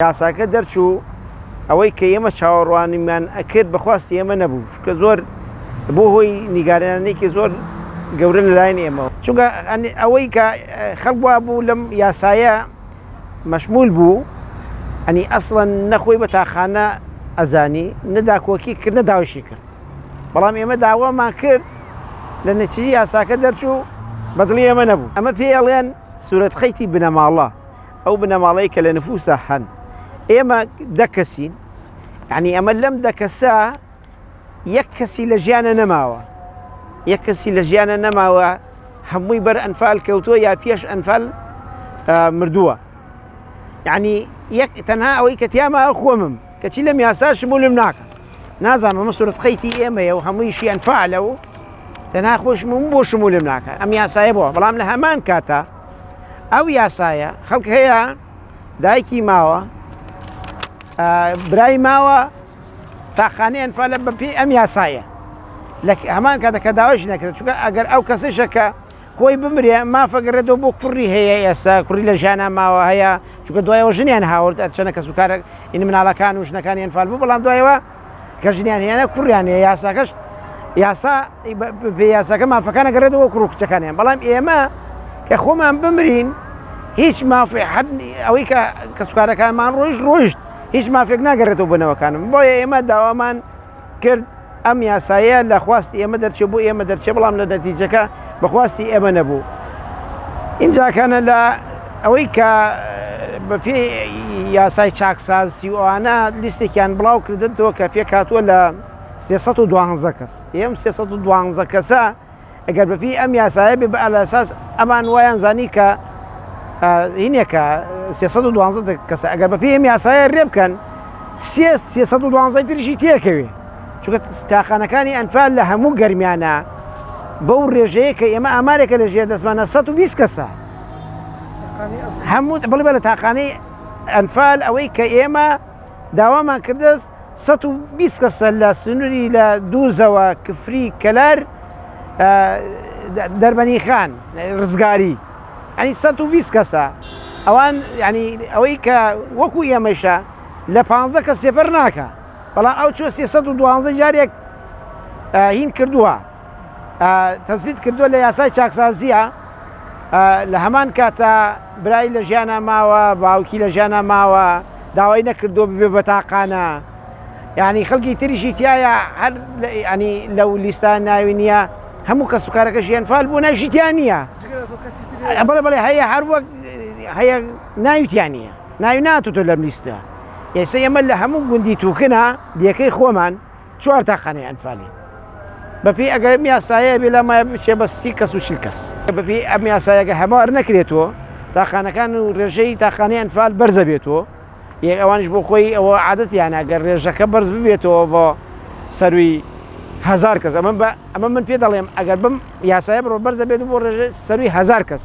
یاساکە دەرچوو ئەوەی کە ئێمە چاوەڕوانیمان ئەکرد بە خواستی ئێمە نەبوو چونکە زۆر بوو هۆی نیگارێنانێکی زۆر گەورە لە لایەن ئێمەوە. چونکە ئەوەی کە خەڵک وا بوو لەم یاسایە مەشمول بوو ئەنی ئەسڵەن نە خۆی بە تاقانە ئەزانی نە داکۆکی کرد نە داوایشی کرد بەڵام ئێمە داوامان کرد لە نەتیجەی یاساکە دەرچوو بە دڵی ئێمە نەبوو ئەمە پێی ئەڵێن سورەت خیتی بنەماڵە. ئەو بنەماڵەی کە لە نفوسا هەن ئێمە دە کەسین یعنی ئەمە لەم دە کەسە یەک کەسی لە ژیانە نەماوە یەک کەسی لە ژیانە نەماوە هەمووی بەر ئەنفال کەوتووە یا پێش ئەنفال مردووە یعنی یەک تەنها ئەوەی کە تیاما خۆمم کەچی لەم یاسا شمولم ناکە نازانم ئەمە سرت قەیتی ئێمەیە و هەموویشی ئەنفالە و تەنها خۆشمم بۆ شمولم ناکە ئەم یاسایە بووە بەڵام لە هەمان کاتە ئەو یاسایە خەڵک هەیە دایکی ماوە برای ماوە تاخانە ئەنفالە بەپی ئەم یاسایە لە هەمان کاتەکە داواش نەکرێت چونکە ئەگەر ئەو کەسەشەکە خۆی بمرێ مافەگەڕێتەوە بۆ کوڕی هەیە ئێستا کوڕی لە ژیانە ماوە هەیە چونکە دوایەوە ژنیان هاورد ئەرچەنە کەس و کارە ئین مناڵەکان و ژنەکانیان فالبوو بەڵام دوایەوە کە ژنیان هێنە کوڕیان هەیە یاساکەش یاسا بێ یاساکە مافەکان نەگەڕێتەوە کوڕ و کچەکانیان بەڵام ئێمە کە خۆمان بمرین هیچ مافی حد ئەوەی کە کەسوکارەکانمان ڕۆیشت ڕۆیشت هیچ مافێک ناگەڕێتەوە بنەوەکانم بۆیە ئێمە داوامان کرد ئەم یاسایە لە خواستی ئێمە دەرچێ بۆ ئێمە دەرچێ بەڵام لە نەتیجەکە بەخواستی ئێمە نەبوو ئینجا کەنە لە ئەوەی کە بەپێ یاسای چاکساز سی ئەوانە لیستێکیان بڵاو کردن تۆ کە پێک هاتووە لە 312 کەس ئێم 312 کەسە ئەگەر بەپی ئەم یاسایە بێ بە ئەلاساس ئەمان وایان زانی کە هینێکە 312 کەسە ئەگەر بەپی ئەم یاسایە رێ بکەن 312 ترشی تێکەوێ چونکە تاقانەکانی ئەنفال لە هەموو گەرمیانە بەو ڕێژەیە کە ئێمە ئامارێکە لە ژێر دەستمانە 120 کەسە هەموو بڵێ لە تاقانەی ئەنفال ئەوەی کە ئێمە داوامان کردست 120 کەسە لە سنووری لە دووزەوە کفری کەلار دەربەنی خان ڕزگاری ئەنی 120 کەسە ئەوان ینی ئەوەی کە وەکو ئێمەشە لە پ کە سێپەر ناکە بەڵام ئەو چۆ سێ سەد و دوازدە جارێک هین کردووە تەزبیت کردووە لە یاسای چاکسازیە لە هەمان کاتە برای لە ژیانە ماوە باوکی لە ژیانە ماوە داوای نەکردو ببێ بەتاقانە یعنی خەڵکی تریشی تایە هەر ینی لەو لیستان ناوی نییە هەموو کەس بکارەکە ژیان فال بوو نەژیتیان نییە بڵێ بڵێ هەیە هەر وەک هەیە ناویتیان نییە ناوی ناتوتۆ لەم لیستە ئێسە ئێمە لە هەموو گوندی توکنا دیەکەی خۆمان چوار تاقانەی ئەنفالین بەپی ئەگەر یاسایە بێ لە مای بچێ بە سی کەس و شیل کەس بەپی ئەم یاسایەگە هەمار نەکرێتەوە تاقانەکان و ڕێژەی تاقانەی ئەنفال بەرزە بێتەوە یەک ئەوانش بۆ خۆی ئەوە عادەتیانە گەر ڕێژەکە بەرز ببێتەوە بۆ سەروی هزار کەس ئەمە بە ئەمە من پێ دەڵێم ئەگەر بم یاسایە بڕۆ بەرزە بێت بۆ ڕێژە سەروی هزار کەس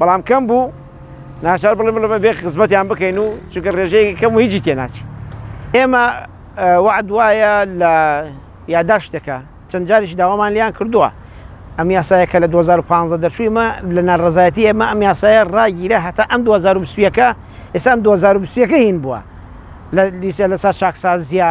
بەڵام کەم بوو ناچار بڵێ بڵێ بێ خزمەتیان بکەین و چونکە ڕێژەیەکی کەم و هیچی تێناچی ئێمە وعد وایە لە یاداشتەکە چەند جاریش داوامان لیان کردووە ئەم یاسایە کە لە 2015 دەچوویمە لە ناڕزایەتی ئێمە ئەم یاسایە ڕاگیرە هەتا ئەم 2020ەکە ئێسام 2020ەکە هین بووە لە لیسە لەسا چاکسازیە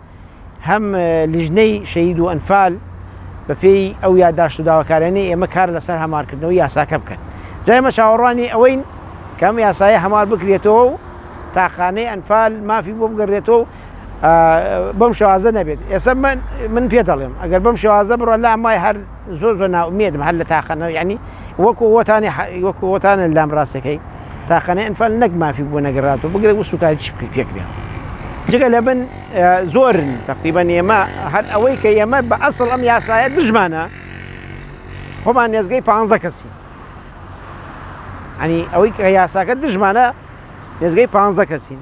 هەم لیژنەی شەهید و ئەنفال بە پێی ئەو یاداشت و داواکاریانەی ئێمە کار لەسەر هەمارکردنەوەی یاساکە بکەن جا ئێمە چاوەڕوانی ئەوەین کە ئەم یاسایە هەمار بکرێتەوە و تاقانەی ئەنفال مافی بۆ بگەڕێتەوە و بەم شێوازە نەبێت ئێستا من پێ دەڵێم ئەگەر بەم شێوازە بڕۆ لام وای هەر زۆر زۆر نائومێدم هەر لە تاقانە یانی وەکو وەتانی وەکو وەتانە لام ڕاستەکەی تاقانەی ئەنفال نەک مافی بوو نەگەڕات و بگرە و سوکایتیش بکەی پێکرێن جگە لە بن زۆرن تقریبان ئێمە هەر ئەوەی کە ئێمە بە ئەسڵ ئەم یاسایە دژمانە خۆمان نێزگەی پ کەسی ئەنی ئەوەی کە یاساکە دژمانە نێزگەی پ کەسین